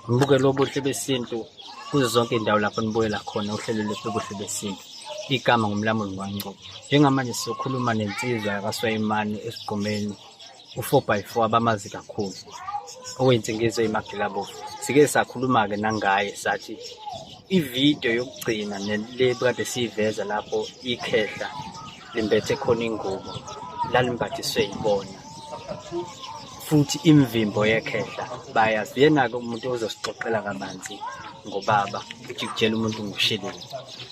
Ngibuke lobuhle besintu kuzo zonke indawo lapho nibuyela khona uhlelo lwethu lobuhle besintu igama ngumlamuli waNgcobo njengamanje sizokhuluma nensizwa yakwaSwayimane esigqumeni u-four by four abamazi kakhulu okuyinsingizo yemagilabovu sike sakhuluma-ke nangaye sathi ividiyo yokugcina le kade siyiveza lapho ikhehla limbethe khona ingubo lalimbathiswe yibona futhi imvimbo yekhehla bayazi yena-ke umuntu ozosixoxela kabanzi ngobaba ukuthi kutshela umuntu ngusheleni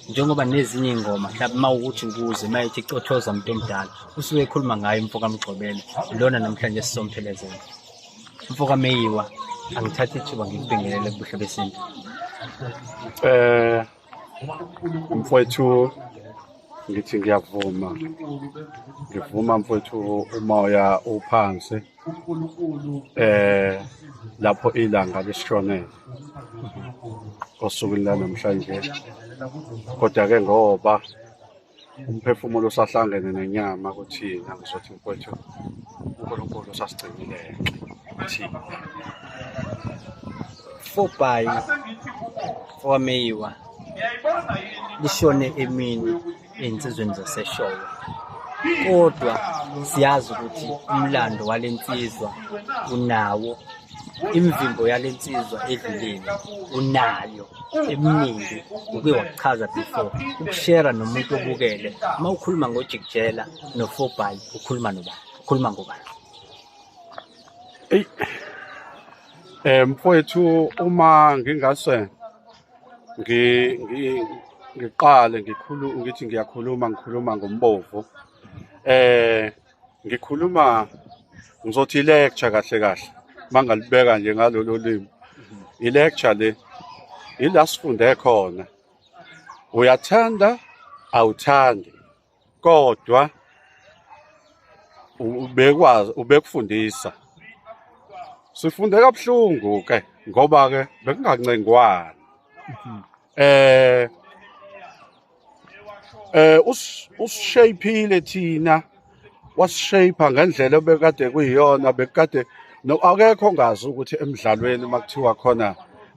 njengoba nezinye iy'ngoma mhlawumbe uma ukuthi ukuze uma ithi cothoza umuntu omdala usuke ekhuluma ngayo umfo kamgxobela lona namhlanje sisomphelezela umfo kameyiwa angithathe ithuba ngikubingelele kubuhle besintu um mfowethu ngithi ngiyavuma ngivuma mfowethu umoya uphansi eh lapho ilanga lisishonele osukwini lanamhlanje kodwa ke ngoba umphefumulo usahlangene nenyama kuthina ngizothi mfowethu uNkulunkulu usasigcinile thina fobhayi wameyiwa lishone emini ey'nsizweni zasesholo kodwa siyazi ukuthi umlando wale nsizwa unawo imvimbo yale nsizwa edluleni unayo eminingi uke wakuchaza before ukushera nomuntu obukele uma ukhuluma ngojikjela nofobhayi ukhuluma nobani ukhuluma ngobani eyi um mfowethu uma ngingase ngiqale ngikhulu ngithi ngiyakhuluma ngikhuluma ngombovu um ngikhuluma ngizothi i-lecture kahle kahle uma ngalibeka nje ngalolo limi i-lecture le ila sifunde khona uyathanda awuthandi kodwa ubekwazi ubekufundisa sifunde kabuhlungu ke ngoba ke bekungancengwani eh eh usishayphile thina wasishaypha ngendlela obekade kuyiyona bekade akekho ngazi ukuthi emidlalweni makuthiwa khona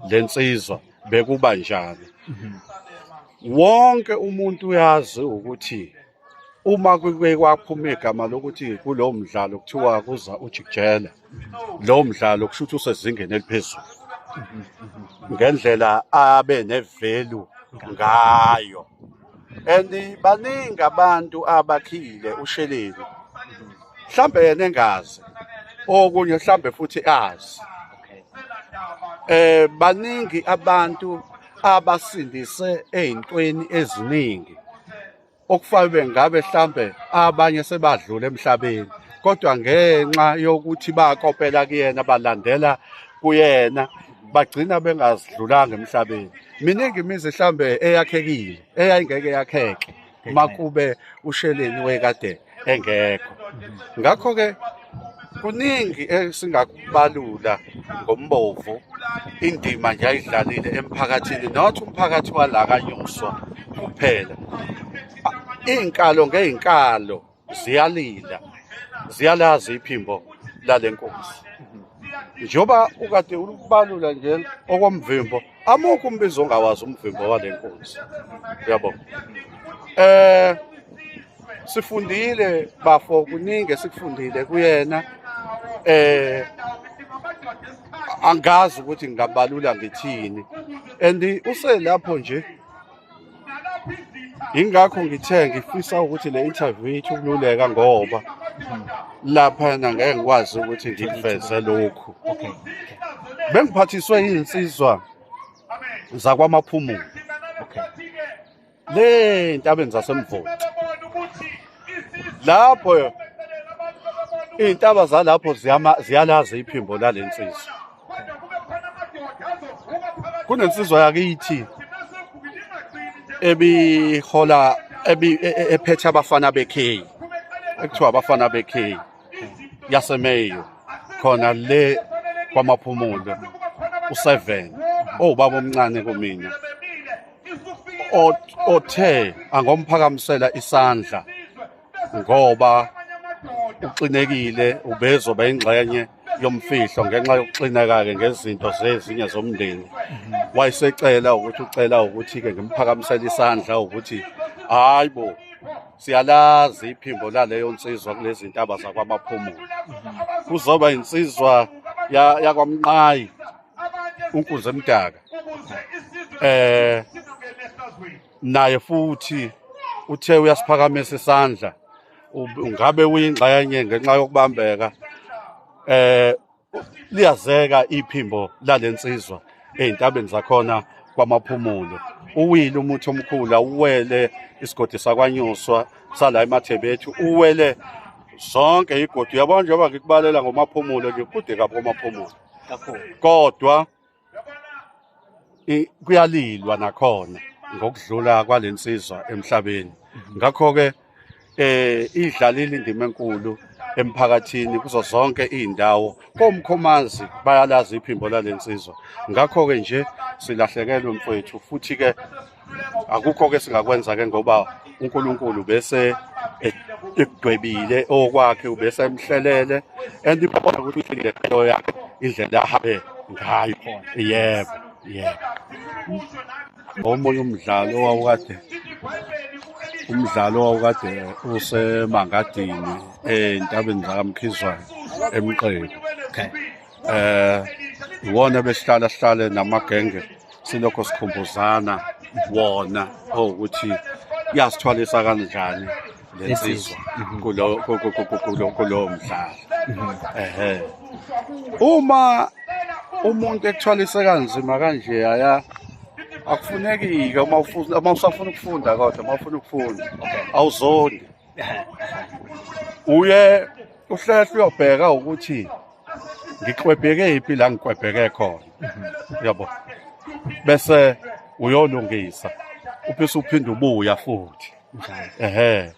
lensizwa bekuba njani mhm. wonke umuntu uyazi ukuthi uma kuke kwaphuma igama lokuthi kulowo mdlalo kuthiwa kuza ujikijela lowo mdlalo kusho ukuthi usezingeni eliphezulu ngendlela abe nevelu ngayo and baningi abantu abakhile usheleni mhlambe yena engazi okunye mhlambe futhi azi eh baningi abantu abasindise ezintweni eziningi okufanele ngabe mhlambe abanye sebadlule emhlabeni kodwa ngenxa yokuthi bakopela kuyena balandela kuyena bagcina bengazidlulanga emhlabeni miningi imizi mhlambe eyakhekile eyayingeke yakheke makube usheleni wekadeni engekho ngakho ke kuningi esingakubalula ngombovu indima nje ayidlalile emphakathini not umphakathi wala kanyuswa kuphela iy'nkalo ngey'nkalo ziyalila ziyalazi iphimbo lale nkosi njengoba ukade ubalula nje okomvimbo amukho umbizo ongawazi umvimbo wale nkosi uyabo eh sifundile bafo kuningi esikufundile kuyena eh angazi ukuthi ngingabalula ngithini and uselapho nje ingakho ngithe ngifisa ukuthi le interview yethu kululeka ngoba lapha ngeke ngikwazi ukuthi ngikuveze lokhu bengiphathiswe izinsizwa zakwamaphumulo le ntabeni zasemvoti lapho iy'ntaba zalapho ziyalazi iphimbo lale nsizwa kunensizwa yakithi ebihola e, e, ephethe abafana bekheyi ekuthiwa abafana bekheyi yasemeyo khona le kwamaphumulo u-seven owubaba omncane kumina othe angomphakamisela isandla ngoba uxinekile ubezoba ingxenye yomfihlo ngenxa yokuxineka-ke ngezinto zezinye zomndeni wayesecela ukuthi ucela ukuthi-ke ngimphakamisele isandla ukuthi hhayi bo siyalazi iphimbo laleyo nsizwa kulezi ntaba zakwamaphumulo kuzoba insizwa yakwamnqayi unkuze mdaka eh naye futhi uthe uyasiphakamisa isandla ngabe uyingxenye ngenxa yokubambeka eh liyazeka iphimbo lalensizwa ezintabeni zakhona kwamaphumulo uwile umuthi omkhulu awuwele isigodi sakwanyuswa sala emathebethu uwele zonke igodi uyabona njengoba ngikubalela ngomaphumulo ngikude kabi komaphumulo kodwa kuyalilwa nakhona ngokudlula kwalensizwa emhlabeni mhm. ngakho ke eh idlalile indima enkulu emphakathini kuzo zonke izindawo komkhomazi bayalazi iphimbo lalensizwa ngakho ke nje silahlekelwe mfowethu futhi ke akukho-ke singakwenza-ke ngoba unkulunkulu bese ekudwebile okwakhe ubese emhlelele and ibona ukuthi uhlelile qeyo yakhe indlela ahambe ngayo khona yebo yebo omunye umdlalo owawukade umdlalo owawukade usemangadini entabeni zakamkhizwane emqeku okay eh iwona besihlala sihlale namagenge silokho sikhumbuzana wona oh ukuthi yasithwalisa kanjani lensizwa mhm. kulo kulo kulo mdlalo mhm. ehe uma umuntu ekuthwalise kanzima kanje aya akufuneki-ke uma ufuna uma usafuna ukufunda kodwa uma ufuna ukufunda awuzondi uye uhlehle uyobheka ukuthi ngiklwebheke iphi la ngiklwebheke khona yabo bese uyolungisa uphise uphinde ubuya futhi ehe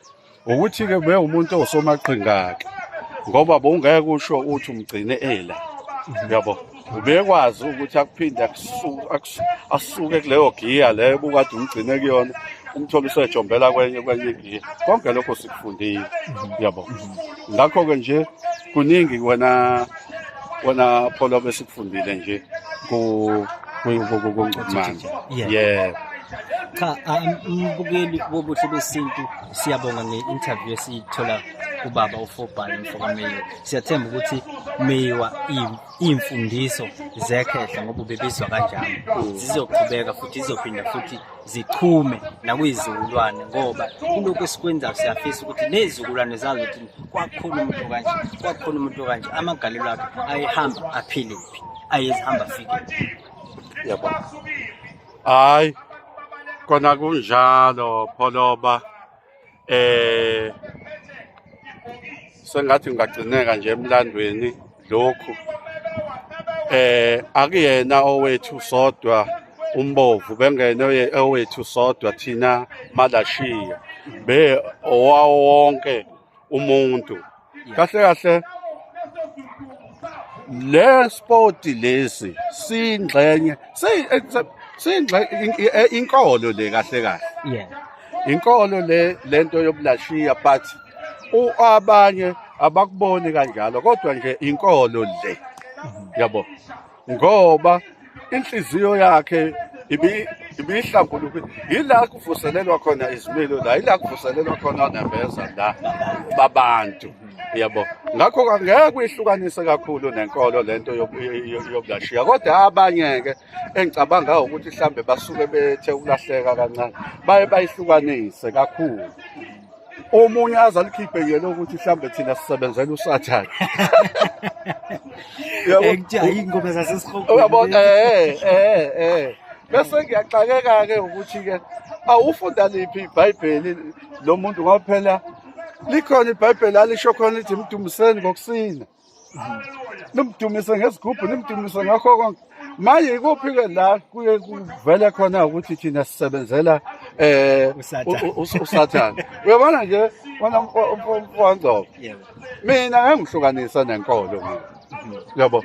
ukuthi ke be umuntu osomaqhingake ngoba bongeke usho uthi umgcine ela yabo ubekwazi ukuthi akuphinde asuke kuleyo giya leyo bukade umgcine kuyona umthole usejombela kwenye kwenye igiya konke lokho sikufundile yabo ngakho-ke nje kuningi wena wena pholo besikufundile nje ku kungcumanje yeah cha umbukeli um, wobuhle besintu siyabonga nge-interview esiyithola kubaba ufobhani mfokameyiwa siyathemba ukuthi meyiwa iy'mfundiso zekhehla ngoba ubebizwa kanjalo zizoqhubeka futhi zizophinda futhi zichume nakuyizizukulwane ngoba kulokhu esikwenzayo siyafisa ukuthi nezizukulwane zazi ukuthi kwakukhona umuntu kanje kwakukhona umuntu kanje amagalelo akhe ayehamba aphile kuphi ayezihamba afike yabo hayi kona kunjalo pholoba eh sengathi ngagcineka nje emlandweni lokhu eh akuyena owethu sodwa umbovu bengene owethu sodwa thina malashiya be owawonke umuntu kahle kahle le sport lesi singxenye singxenye e, inkolo le kahle kahle yeah inkolo le lento yobulashiya but abanye abakuboni kanjalo kodwa nje inkolo le yabo ngoba inhliziyo yakhe ibihlambulukile yila kuvuselelwa khona izimilo la yila kuvuselelwa khona nembeza la babantu yabo ngakho angeke uyihlukanise kakhulu nenkolo lento yokulashiya kodwa abanye-ke engicabanga ukuthi mhlambe basuke bethe ukulahleka kancane baye bayihlukanise kakhulu omunye aze alikhiphe yena ukuthi mhlawumbe thina sisebenzela usathane uyabona eh eh eh bese ngiyaxakeka ke ukuthi ke awufunda liphi ibhayibheli lo muntu ngoba phela likhona ibhayibheli alisho khona lithi mdumiseni ngokusina nimdumise ngesigubhu nimdumise ngakho konke manje ikuphi-ke la kuye kuvele khona ukuthi thina sisebenzela eh usathane uyabona nje wena mfowangcobo mina ngangihlukanisa nenkolo mina yabo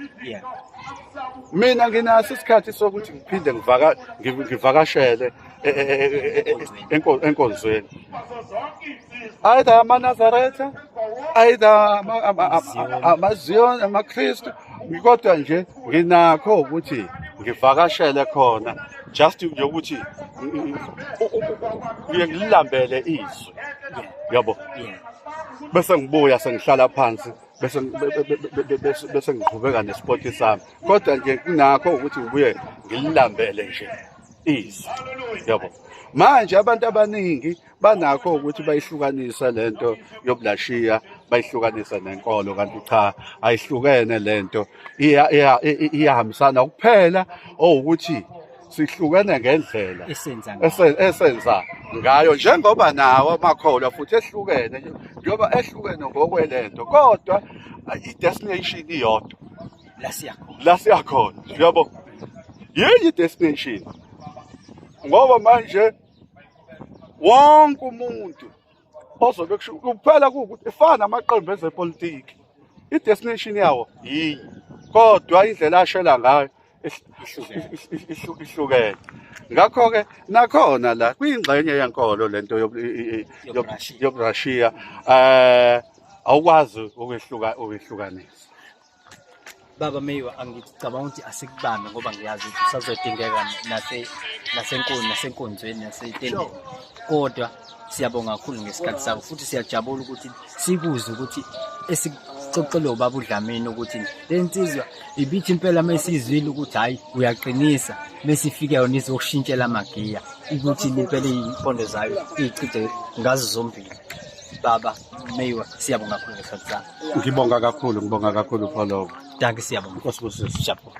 mina nginaso isikhathi sokuthi ngiphinde ngivakashele e, e, e, enkonzweni either amanazaretha either amazion amakristu kodwa nje nginakho ukuthi ngivakashele khona just nje ukuthi ngiye ngililambele izwi yabo bese ngibuya sengihlala phansi bese bese ngiqhubeka nesport sami kodwa nje kunakho ukuthi ngibuye ngililambele nje izwi yabo manje abantu abaningi banakho ukuthi bayihlukanisa lento yobulashiya bayihlukanisa nenkolo kanti cha ayihlukene lento iyahambisana kuphela owukuthi sihlukene ngendlela esenza ngayo njengoba nawo amakholwa futhi ehlukene njengoba ehlukene ngokwelento kodwa i-destination iyodwa la siya khona la siya khona uyabo yini destination ngoba manje wonke umuntu ozobe kusho kuphela ukuthi ifana namaqembu ezepolitiki i-destination yawo yinye kodwa indlela ashela ngayo ihlukene ngakho-ke nakhona la kuyingxenye yenkolo le nto yoburashiya um awukwazi ukwehlukanisa Baba Meyiwa angicabanga ukuthi asikubambe ngoba ngiyazi ukuthi usazodingeka nase nasenkulu nasenkonzweni nasetendeni kodwa siyabonga kakhulu ngesikhathi sakho futhi siyajabula ukuthi sikuze ukuthi esixoxele ubaba uDlamini ukuthi le nsizwa ibithi impela uma isizwile ukuthi hhayi uyaqinisa mesifike yona izokushintshela amagiya ukuthi impela iy'mpondo zayo iy'chithe ngazo zombili baba Meyiwa, siyabonga kakhulu ngesikhathi sakho. Ngibonga kakhulu, ngibonga kakhulu Pholobo. Danke siyabonga. Nkosi busisi. Siyabonga.